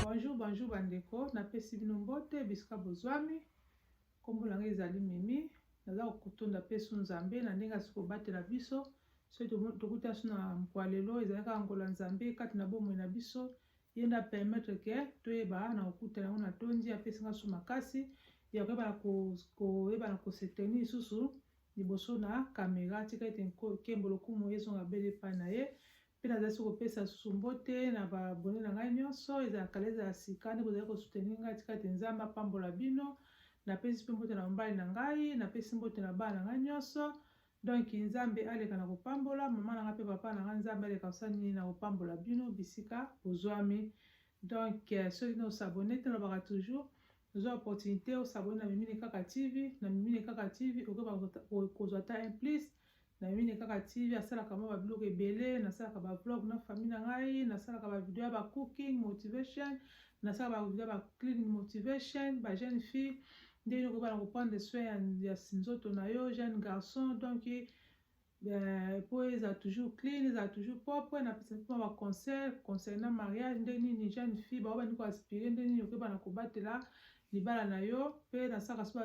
Bonjour, bonjour bandeko, napesi bino mbote bisika bozwami. Kombo na ngai ezali Mimi, naza kotonda pesu Nzambe na ndenge asi kobatela biso soki tokuti aso na mokwa lelo ezalaki angola Nzambe kati na bomoi na biso ye nde apermettre ke toyeba na kokutana yango na tondi apesi nga so makasi ya koyebana koyebana koseteni lisusu liboso na kamera tika ete nkembo lokumu ezonga bele epai na ye mpe nazali se kopesa lisusu mbote na babone na ngai nyonso ezala kala ezala sika nde bozali kosuteni ngai tika ete nzambe apambola bino napesi mpe mbote na mobali na ngai napesi mbote na bana na ngai nyonso donk nzambe aleka na kopambola mama na ngai mpe papa na ngai nzambe aleka kosala nini na kopambola bino bisika bozwami donk euh, soki nosabone te nalobaka toujours ozwa opportunité osabone na mimine kaka tv na mimine kaka tv okoki kozwa ata un plus na mimine kaka tv asalaka mwa babiloko ebele nasalaka bavlog na famille na ngai nasalaka bavideo ya bacooking motivation nasalaka bavideo ya bacleaning motivation bajeune fille ndenge okoki bana koprendre soin ya, ya nzoto na yo jeune garçon donc Eh, po eza toujours clean eza toujours propre napesa mpe ba conseil concernant mariage nde nini jeune fille bao bandi koaspire nde nini okoyeba na kobatela libala na yo mpe nasalaka so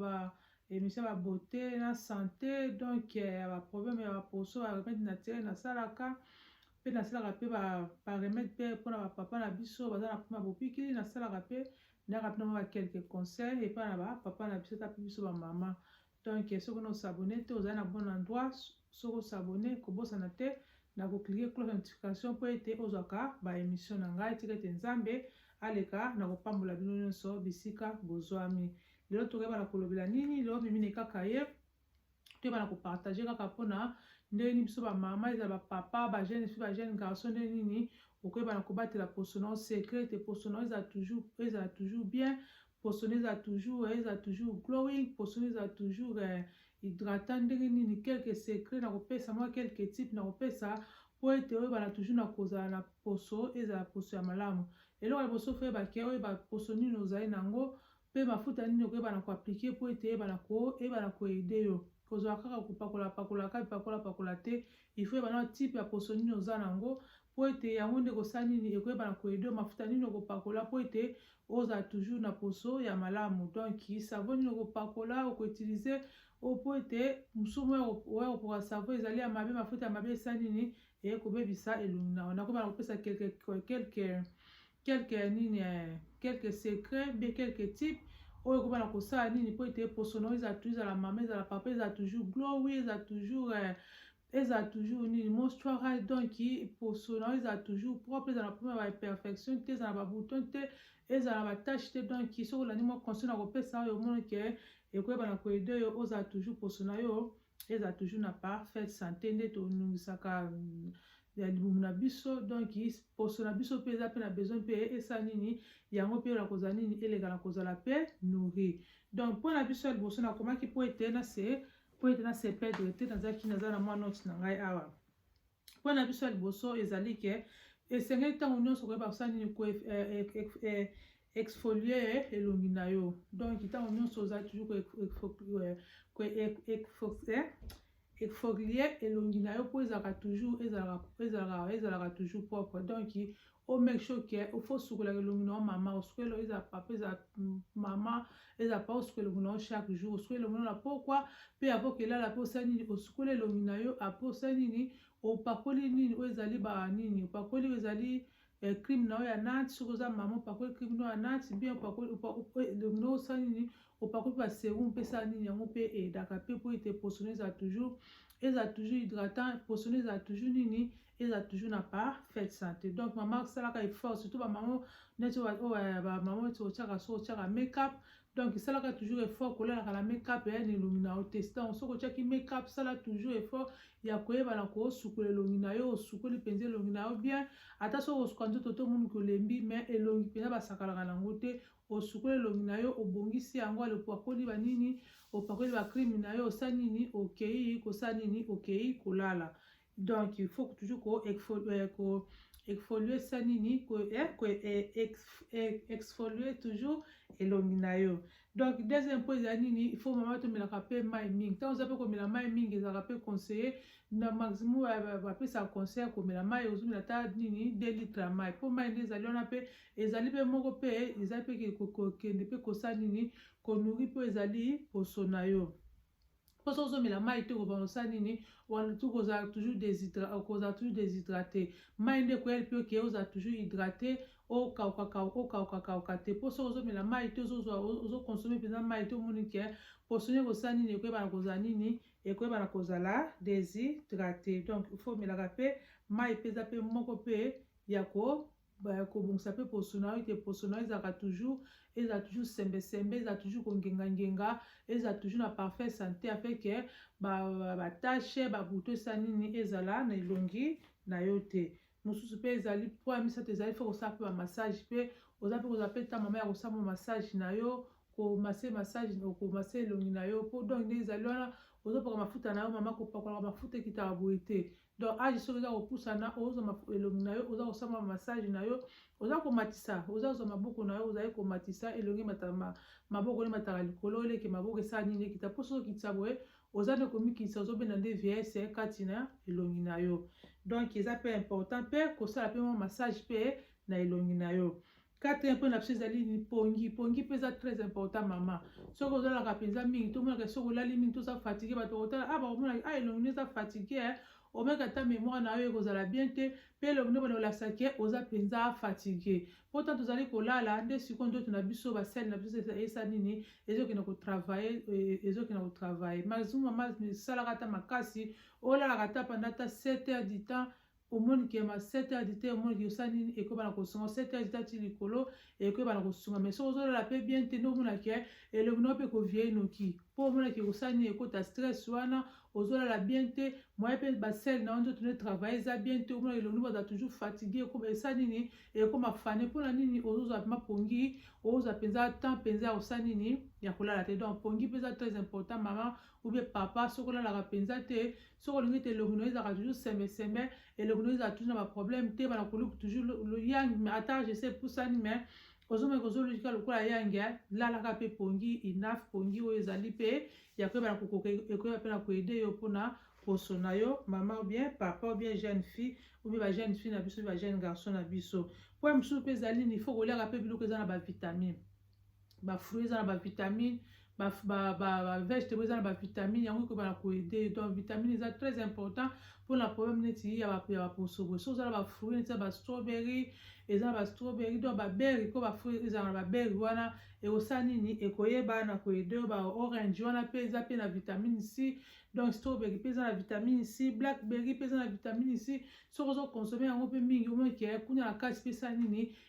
ba émission ya beauté na santé donc ya eh, baproblème ya baposo ba remède naturel nasalaka mpe nasalaka mpe baremède mpe mpona bapapa na biso baza na mpoma bopikili nasalaka mpe ndaka mpe na mwa bakelke conseil epai na bapapa na biso ta mpe biso bamama donc soki na osabone te ozali na bon endroit soki osabone kobosana te na koklike cloche ya notification mpo ete ozwaka baemission na ngai tika ete nzambe aleka na kopambola bino nyonso bisika bozwami lelo tokoyebana kolobela nini lelo mimine kaka ye toyebana kopartage kaka mpona ndenge nini biso bamama ezala bapapa bajeune fi bajeune garçon ndenge nini okoyebana kobatela poso na yo secret te poso na yo ezala toujours bien poso na eza toujours eh, eza toujours glowing poso na eza toujours eh, hydratant ndenge nini quelque secret na kopesa mwa quelque type na kopesa mpo ete oyebana toujours na kozala na poso ezala poso ya malamu eloko ya liboso foyebake oyeba poso nini ozali na yango mpe mafuta nini okoyebana koaplike mpo ete eyebana koyebana koede yo kozwa kaka kopakola pakola kaka bipakola pakola te il faut yeba na type ya poso nini oza na yango mpo ete yango nde ekosala nini ekoyeba na koyede mafuta nini okopakola mpo ete ozala toujours na poso ya malamu donc savo nini okopakola okoutilize mpo ete mosumu oya kopoka savo ezali ya mabe mafuta ya mabe esala nini ekobebisa elongi na yo nakoba na kopesa quelque quelque quelque ya nini eh, quelque secret bien quelque type oyo ekoba na kosala nini mpo ete poso na yo ezala toujours ezala mama ezala papa ezala toujours glowi ezala toujours eh, ezala toujours nini mostuara donc poso na yo ezala toujours propre ezala na problème ya baimperfection te ezala na babouton te ezala na batache te donc soki olandi mwa conseil na kopesa oyo omoni ke ekoyeba na koede yo ozala toujours poso na yo ezala toujours na parfaite sante nde tonungisaka mm, ya libumu na biso donc poso na biso mpe eza mpe na besoin mpe esala nini yango mpe na kozala nini eleka na kozala mpe nourri donc mpo na biso ya liboso nakomaki mpo ete na se mpo ete na se perdre te nazalaki naza na mwa note na ngai awa Mpo na biso ya liboso ezali ke esengeli ntango nyonso koyeba kosala nini ko eh, eh, eh, exfolier elongi na yo donc ntango nyonso ozali toujours exfolier elongi na yo mpo ezalaka toujours ezalaka ezalaka ezalaka toujours propre donc o make sure ke ofo osukolaka elongi na yo mama osukola elongi eza papa eza mama eza papa osukola elongi na yo chaque jour osukola elongi na yo na pokwa mpe apo kelala mpe osali nini osukola elongi na yo apo osali nini opakoli nini oyo ezali ba nini opakoli oyo ezali eh, crime na yo ya nati soki oza mama opakoli crime na yo ya nati bien opakoli elongi na yo osali nini opakoli mpe baserum mpe esala nini yango mpe edaka mpe mpo ete posone eza toujours eza toujours hydratant posone eza toujours nini eza toujours na parfaite santé donc mama osalaka effort surtout bamama neti oyo bamama neti otyaka so otyaka makeup donc esalaka toujours effort kolalaka na makeup ya elongi na yo te donc soki otyaki makeup sala toujours effort ya koyebana kosukola elongi na yo osukoli mpenza elongi na yo bien ata soki osuka nzoto to monuki olembi mais elongi mpenza basakalaka na yango te osukoli elongi na yo obongisi yango alopakoli banini opakoli bacrime na yo osali nini okei kosala nini okei kolala donc il faut toujours ko exfolier ko exfolier ça nini ko eh, ko eh, ex, eh, exfolier toujours elongi na yo donc deuxième point eza nini il faut mama tomelaka mpe mai mingi ntango oza mpe komela mai mingi ezalaka mpe conseiller na maximum bapesa conseil ya komela mai ozomela ata nini 2 litre ya mai mpo mai nde ezali wana mpe ezali mpe moko mpe ezali mpe kokende mpe kosala nini konuri mpo ezali poso na yo mpo soki ozomela mai te okobanda kosala nini okozala toujours okozala toujours deshydrate mai nde ekoyali mpe oke ozala toujours hydrate okaukakauka te mpo soki ozomela mai te ozokonsome mpenza mai te omoni ke mposo nde ekosala nini ekoyebana kozala nini ekoyebana kozala deshydrate donc ifo omelaka mpe mai mpenza mpe moko mpe ya ko kobongisa mpe poso na yo ete poso na yo ezalaka toujours ezala toujours sembesembe ezala toujours kongengangenga ezala toujours na parfait santé afin ke batache ba babuto esa nini ezala na elongi na yo te mosusu mpe ezali mpo ya misato ezali mpe kosala mpe bamassage mpe oza mpe kozala mpe ntango mama ya kosala mwa massage na yo komase massage okomase elongi na yo mpo donc nde ezali wana ozopaka mafuta na yo mama kopakolaka mafuta ekitaka boye te donc age soki oza kopusana ozwa elongi na yo oza kosamba massage na yo oza komatisa oza kozwa maboko na yo ozali komatisa elongi matama maboko nde mataka likolo eleke maboko esala nini ekita mpo soki okitisa boye oza nde komikitisa ozobenda nde vieillesse kati na elongi na yo donc eza mpe important mpe kosala mpe mwa massage mpe na elongi na yo Quatrième point na biso ezali ni pongi. Pongi mpe eza très important mama. Soki olalaka mpenza mingi, tomonaka soki olali mingi, toza fatigue, bato bakotala ah bakomona ah elongi eza fatigue eh. omeka ata mémoire na yo ekozala bien te mpe elongi nde bana kolakisa ke oza mpenza fatigue mpo ntango tozali kolala nde sikoyo ndoto na biso basele na biso esa nini ezokende kotravaille eh, ezokende kotravaille mazuma esalaka ata makasi olalaka ata panda ata 7 heures du temps omoni ke ma 7 heures du temps omoni ke osali nini ekoyeba na kosunga 7 heures du temps ti likolo ekoyeba na kosunga mais soki ozolala mpe bien te nde omona ke elongi nao mpe koviei noki mpo omona ke kosala nini ekota stress wana ozolala bien te moye mpe basele na yo nzoto nde travaille eza bien te omona elongi nao baza toujours fatigue ekoma esala nini ekoma fane mpo na nini ozozwa mpe mapongi ozwa mpenza temps mpenza ya kosala nini ya kolala te donc pongi mpe eza très important mama oubien papa soki olalaka mpenza te soki olingi te elongi noyo ezalaka toujours semeseme elongi noyo ezala toujours na baproblème te bana koluku toujours yang ata je sais epusani mais ozomeka ozolukika lokola yange lalaka mpe pongi inaf pongi oyo ezali mpe ya koyeba na kokoka ekoyeba mpe na koede yo mpona poso na yo mama ou bien papa ou bien jeune fille ou bien ba jeune fille na biso ba jeune garçon na biso mpo ya mosusu mpe ezali nini ifo koliaka mpe biloko eza na bavitamine ba fruits eza na ba vitamine ba, ba, ba, ba vegetable eza na ba vitamine yango ekoba na koede donc vitamine eza très important mpo na problème neti ya baposobo so eza na ba fruits neti ya ba strawberry eza na ba strawberry donc ba berry mpo ba fruits ezala na ba berry wana ekosala nini ekoyeba na koede ba orange wana mpe eza mpe na vitamine c donc strawberry mpe eza na vitamine c blackberry mpe eza na vitamine c soki ozo consomme yango mpe mingi omoi ke kuna na kati mpe esala nini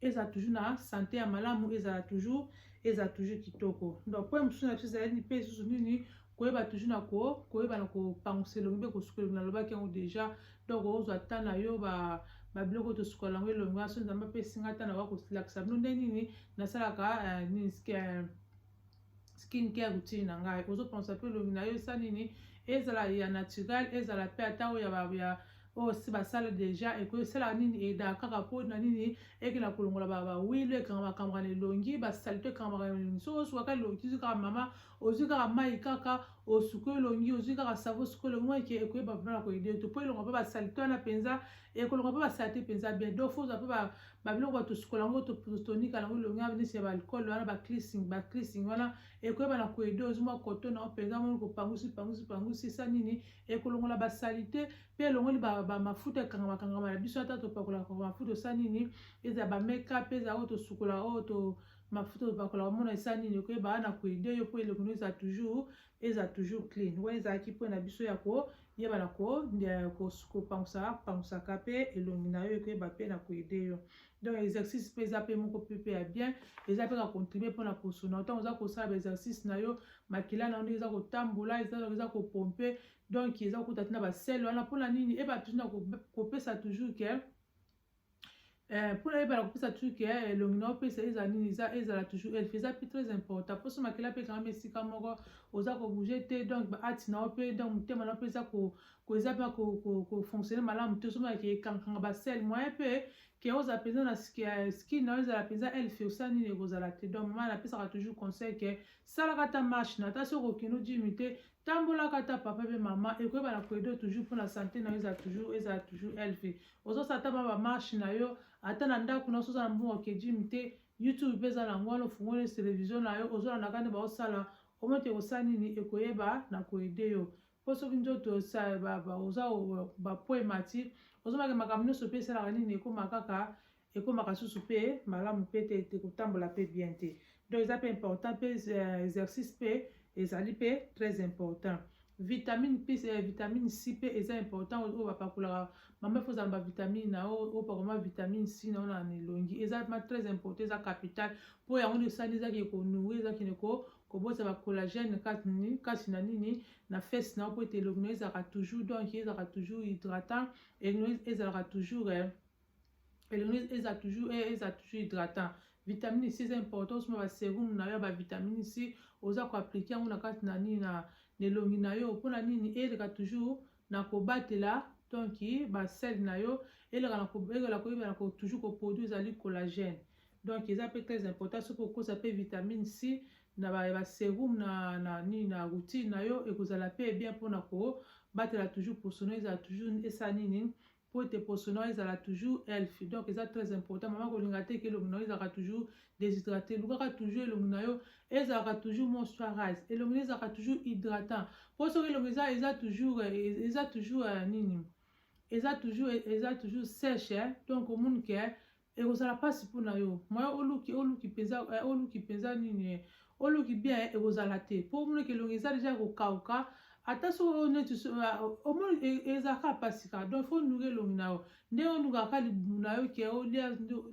ezala toujours na sante ya malamu ezala toujours ezala toujours kitoko donc mpo mosusu na biso ezali mpe lisusu nini koyeba toujours na ko koyeba na kopangusa elongi mpe kosuka elongi nalobaki yango déjà donc ozwa ta na yo ba babiloko tosukola yango elongi wana so nzambe apesi ngai ta na wa kolakisa bino nde nini nasalaka eh, nini eh, skin care routine na ngai ozopensa mpe elongi na yo esa nini ezala ya naturel ezala mpe ata oyo ya ya oyo si basala deja ekosalaka nini eda kaka mpo na nini ekenda kolongola bawile ekangamaka na elongi basalite ekangamaka na elongi soki osuka kaka elongi tozwi kaka mama ozwi kaka mai kaka osuki elongi ozwi kaka savo osuki elongi eke ekoyeba mpona koyede to mpo elonga mpe basalite wana mpenza ekolonga mpe basalite mpenza bien donc fo ozwa mpe babiloko bato tosukola yango totonika yango elongi ya nisi ya baalcool wana baclising baclising wana ekoyeba na koede ozomwa koto na mpenza moni kopangusi pangusi pangusi esa nini ekolongola basalite mpe elongoli bamafuta ekangama kangama na biso ata topakolaka mafuta osa nini ezala bameka mpe ezala oyo tosukola oyo to mafuta topakola omona esa nini okoyeba wana koede yo mpo elongi no ezala toujours eza toujours clean wana ezalaki mpo na biso ya koyeba na kopangusaka pangusaka mpe elongi na yo ekoyeba mpe na koede yo donc exercice mpe eza mpe moko mpe ya bien eza mpe kocontribue mpo na kosona ntango oza kosala baexercice na yo makila na yo ndenge eza kotambola eza kopompe donc eza kokuta te na basele wana mpona nini eba toujours na kopesa toujours ke Eh, mpo nayeba na kopesa truke ya eh, elongi na opesa ezala nini eza ezala toujours elfe eza mpe très important mpo so makila mpe ekangami esika moko oza kobouge te donc baati na yo mpe donc motema na yo mpe eza eza mpe kofonctionne malamu te somonake ekangakanga basele moyen mpe ke ozala mpenza na eh, skin na yo ezala mpenza elfe osa nini ekozala te donc mama napesaka toujours conseil ke salaka ata marche na ata soki okokende ojimi te tambolaka ata papa mpe mama ekoyeba na koedo toujours mpo na sante na yo ezala toujours ezala toujours elfe ozosala ata ba marche na yo ata na ndako na osoza na mbongo ya kejimi te youtube mpe eza na yango wana ofungoli televizio na yo ozolanda kani baosala omete kosala nini ekoyeba na koede yo mpo soki nzoto oza bapo emati ozomake makambo nyonso mpe esalaka nini ekoma kaka ekomaka susu mpe malamu mpe te te kotambola mpe bien te donc eza mpe important mpe euh, exercice mpe ezali mpe très important vitamine mpe euh, vitamine c mpe eza important oyo bapakolaka mama efo ozala bavitamine na yo opakoma vitamine c na yo na elongi eza ma très important eza capital mpo yango nde esali ezaki ekonouri ezakende ko kobota bacollagène kati na nini na fesse na yo mpo ete elongi na yo ezalaka toujours donc ezalaka toujours hydratant elongi ezalaka toujours eh, elongi eza toujours eh, eza toujours hydratant vitamine c eza important osoma baserumu na yo ya bavitamine c oza koaplike yango na kati na nini na elongi na yo mpona nini eleka toujours na kobatela donc basele na yo eleka koyebana toujours koproduit ezali collagène donc eza mpe très important soki okosa mpe vitamine c na baserumu na, na nini na routine na yo ekozala mpe bien mpona kobatela toujours posono ezala toujours esala nini mpo ete poso na yo ezala toujours elf donc eza très important mama kolinga te ke elongi na yo ezalaka toujours déshydraté lukaka toujours elongi na yo ezalaka toujours moisturise elongi na yo ezalaka toujours hydratant mpo soki elongi eza eza toujours eza toujours euh, nini eza toujours eza toujours sèche donc omoni ke ekozala mpasi mpo na yo moya oluki oluki mpenza eh, oluki mpenza nini eh, oluki bien eh, ekozala te mpo omonaki elongi eza deja kokauka ata soki oyo neti omoni ezalaka mpasi kaka donc fo onuka elongi na yo ndenge onukaka libumu na yo ke olia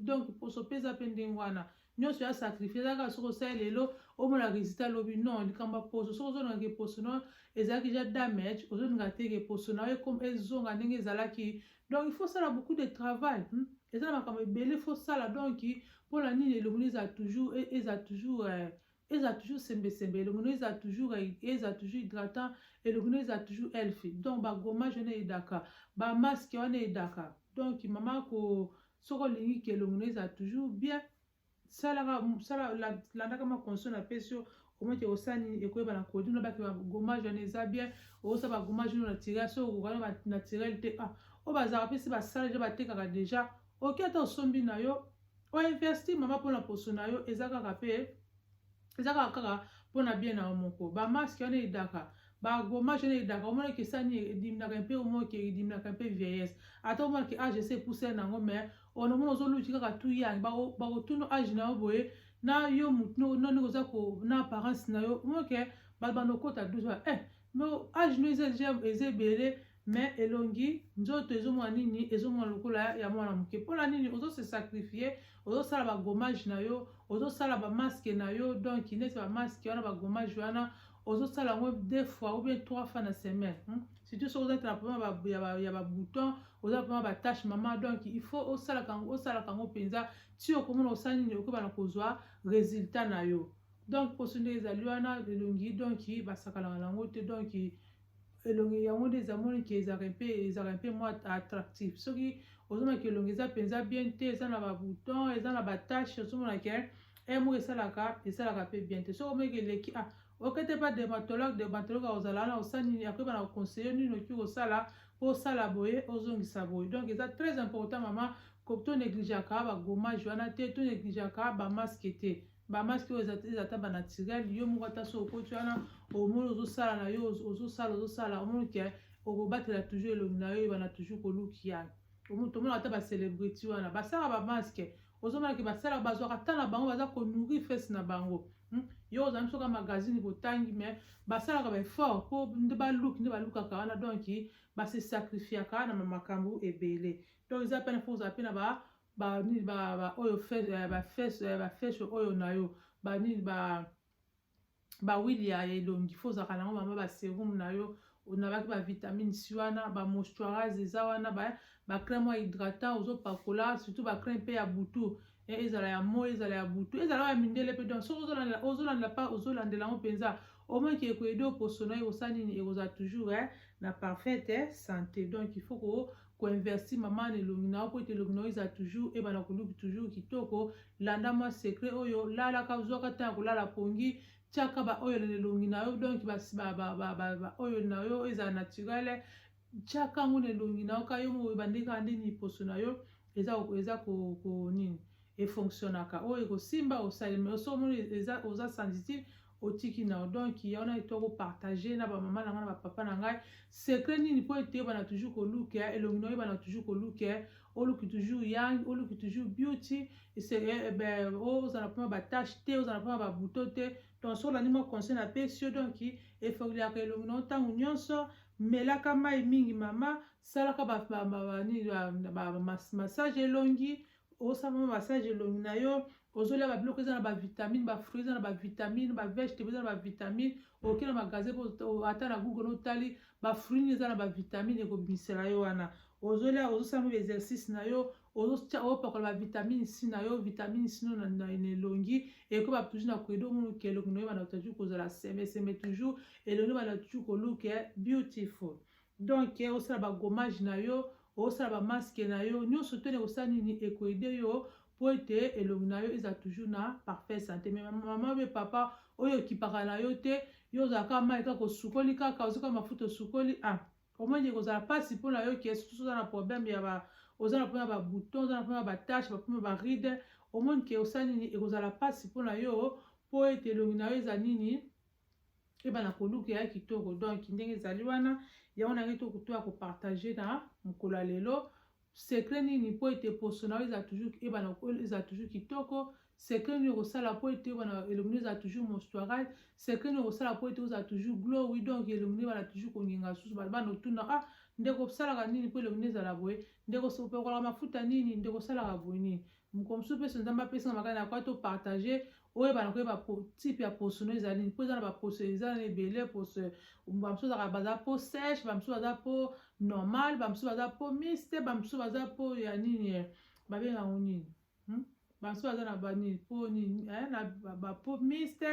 donc poso mpe eza mpe ndenge wana nyonso ya sacrifice eza kaka soki osali lelo omona resultat lobi non likambo ya poso soki ozolingaka eposo no ezalaki ja damage ozolingaka te eposo na yo ezonga ndenge ezalaki donc il faut sala beaucoup de travail hmm? eza na makambo ebele faut sala donc mpo na nini elongi ezala toujours e, ezala toujours eh, eza toujours sembesembe elongi no eza toujours eza toujours hydratant elongi no eza toujours healthy donc bagommage wana eyedaka bamaske wana eyedaka donc mama ko soki olingi ke elongi no eza toujours bien salaka sala landaka makonso na pesi yo omete osala nini ekoyeba na kodi no bake bagommage wana eza bien osa bagommage no naturel soki okokana banaturel te ah oyo bazalaka mpe si basala deja batekaka deja oke ata osombi na yo o investir mama mpona poso na yo eza kaka mpe eza kaka kaka mpona bien na yo moko bamaske wana edaka bagomage wana edaka omona ke sani edimnaka mpe omona ke edimnaka mpe vieillesse ata omona ke age ese epusela na yango mais ono omona ozoluti kaka tu yange bakotuna age na yo boye na yo motu nani oza na apparence na yo omona ke bato bandokota 12 eh mais age no eza ebele mais elongi nzoto ezomona nini ezomona lokola ya mwana moke mpona nini ozo se sacrifie ozosala bagommage na yo ozosala bamaske na yo donc neti bamaske wana bagommage wana ozosala yango deux fois ou bien trois fois na semaine hmm? surtout soki ozatala mpoma ya babouton oza mpoma batache mama donc il faut osalaka yango osalaka yango mpenza ti okomona osala nini okoba na kozwa résultat na yo donc mposo nde ezali wana elongi donc basakanaka na yango te donc elongi yango nde eza moni ke ezalaka mpe ezalaka mpe mwa attractif soki ozomaki elongi eza mpenza bien te eza na babouton eza na batache ozomona ke e moko esalaka esalaka mpe bien te soki omeki eleki ah okete mpa dermatologue dermatologue akozala wana osala nini akoyeba na koconseille nini oki kosala mpo osala boye ozongisa boye donc eza très important mama to negligeaka bagomage wana te to negligeaka bamaske te bamasi oyo eza ata banatirel yo moko ata so okoti wana omoni ozosala na yo ozosala ozosala omoni ke okobatela toujours elongi na yo ebana toujours kolukia tomona ata bacelebrity wana basala bamaske ozomonake basala bazwaka ata na bango baza konourrir fese na bango hmm? yo ozali biso ka magazine botangi mais basalaka baeffort mpo nde baluki nde balukaka wana donk base sacrifiaka na makambo ebele donc eza pene mpo ozala mpe na ba ba nini ba ba oyo fesse eh, ba fesse eh, ba fesse oyo na yo ba nini ba ba wili ya elongi fo ozalaka nango mama ba serum na yo onabaki ba vitamine si wana ba moisturise eza wana ba ba crème ya hydratant ozopakola surtout ba crème mpe ya butu eh, ezala ya moi ezala ya butu ezala ya mindele mpe donc soki ozolandela ozolandela pa ozolandela yango mpenza omoi ke ekoyede oposo na yo ekosala nini ekozala toujours eh, na parfaite eh, santé donc il faut ko ko investir mama na elongi na yo mpo ete elongi na yo ezala toujours ebana koluki toujours kitoko landa mwa secret oyo lalaka ozwaka ntango ya kolala pongi tiaka baoyo na elongi na yo donk baoyo na yo ezala naturele tiaka yango na elongi na yo ka yo moyeba nde kaka nde liposo na yo eza eza ko, ko nini efonctionnaka oyo ekosimba osalema osomoni oza sensitive otiki na donc ya wana eto ko partager na ba mama na ngai na ba papa na ngai secret nini po ete yebana toujours koluka elongi na oyebana toujours koluka oluki toujours yang oluki toujours beauty eh, eh, ozala mpona batache te ozala mpona babuto te donc soki olandi mwa conseil na pesi yo donc efeuliaka elongi na yo ntango nyonso melaka mai mingi mama salaka massage elongi osala mwa massage elongi na yo ozolia babiloko eza na bavitamine bafruit eza na bavitamine bavegetabe eza na bavitamine oke na magasin ata na google otali bafruit nini eza na bavitamine ekobimisela yo wana ozolia ozosala mwa exercice na yo opakola bavitamine c na yo vitamine c no na elongi ekoba toujours na koyede omonoki elongi na yo bana toujours kozala semeseme toujours elongi bana toujours koluka beautiful donc eh, osala ba gommage na yo osala ba masque na yo nyonso tone kosala nini ekoede yo mpo ete elongi na yo ezala toujours na parfait sante me mama mpe papa oyo okipaka na yo te yo ozalaka mai kaka osukoli kaka ozoka mafuta osukoli a ah, omoni ekozala mpasi mpo na yo ke susu oza na problème ya ba oza na mpona babouton oza na mpona batache bapona baride omoni ke osala nini ekozala mpasi mpo na yo mpo ete elongi na yo eza nini keba na koluka ya kitoko donc ndenge ezali wana yango nange to kutu ya kopartage na mokolo ya lelo secret nini mpo ete poso na yo eza toujours ebana eza toujours kitoko secret nini okosala mpo ete ebana elongi no eza toujours mostuarage secret nini okosala mpo ete oza toujours glow wi donc elongi no ebana toujours kongenga susu bana bana otuna ah ndeko osalaka nini mpo elongi no ezala boye ndeko opekolaka mafuta nini ndeko osalaka boye nini mokolo mosusu mpe so nzambe apesi nga makala na kwa to partage oyebana koyeba type ya poso no ezali nini mpo eza na baposo eza na ebele poso bamosusu ezaka baza mpo sèche bamosusu baza mpo normal bamosusu baza mpo miste bamosusu baza mpo ya nini eh, babenga yango nini hmm? bamosusu baza na banini mpo nini eh, na bapo miste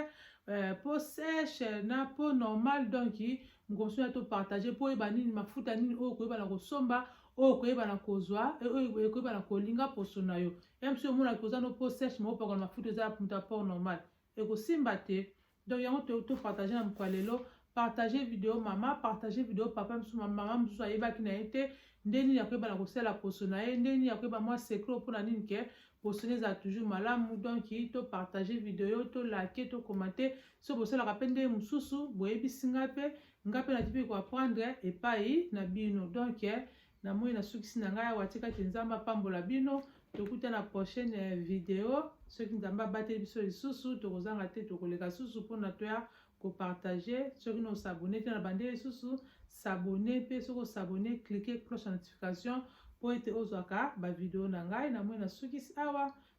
eh, mpo sèche na mpo normal donki mokomosusu ya topartage mpo oyeba nini mafuta nini oyo okoyeba na kosomba oyo okoyeba na kozwa oyo ekoyeba na kolinga poso na yo ya mosusu omonaki oza no po sèche ma opakana mafuta eza moto ya port normal ekosimba te donc yango topartage na mokwa lelo partage video mama partage video papa mosusu mama mosusu ayebaki na ye te nde nini akoyeba na kosala poso na ye nde nini akoyeba mwa secret mpo na nini ke poso na ezala toujours malamu donc to partage video to like to commente so bosalaka mpe ndenge mosusu boyebisi ngai mpe nga mpe naki mpe koaprendre epai na bino donk eh, namoni nasukisi na ngai awa tika te nzambe apambola bino tokuta na prochaine eh, video soki nzambe abateli biso lisusu tokozanga te tokoleka susu mpona toya kopartage soki na osabone te na bande lisusu sabone mpe soki osabone klike cloche ya notification mpo ete ozwaka bavideo na ngai namoni nasukisi awa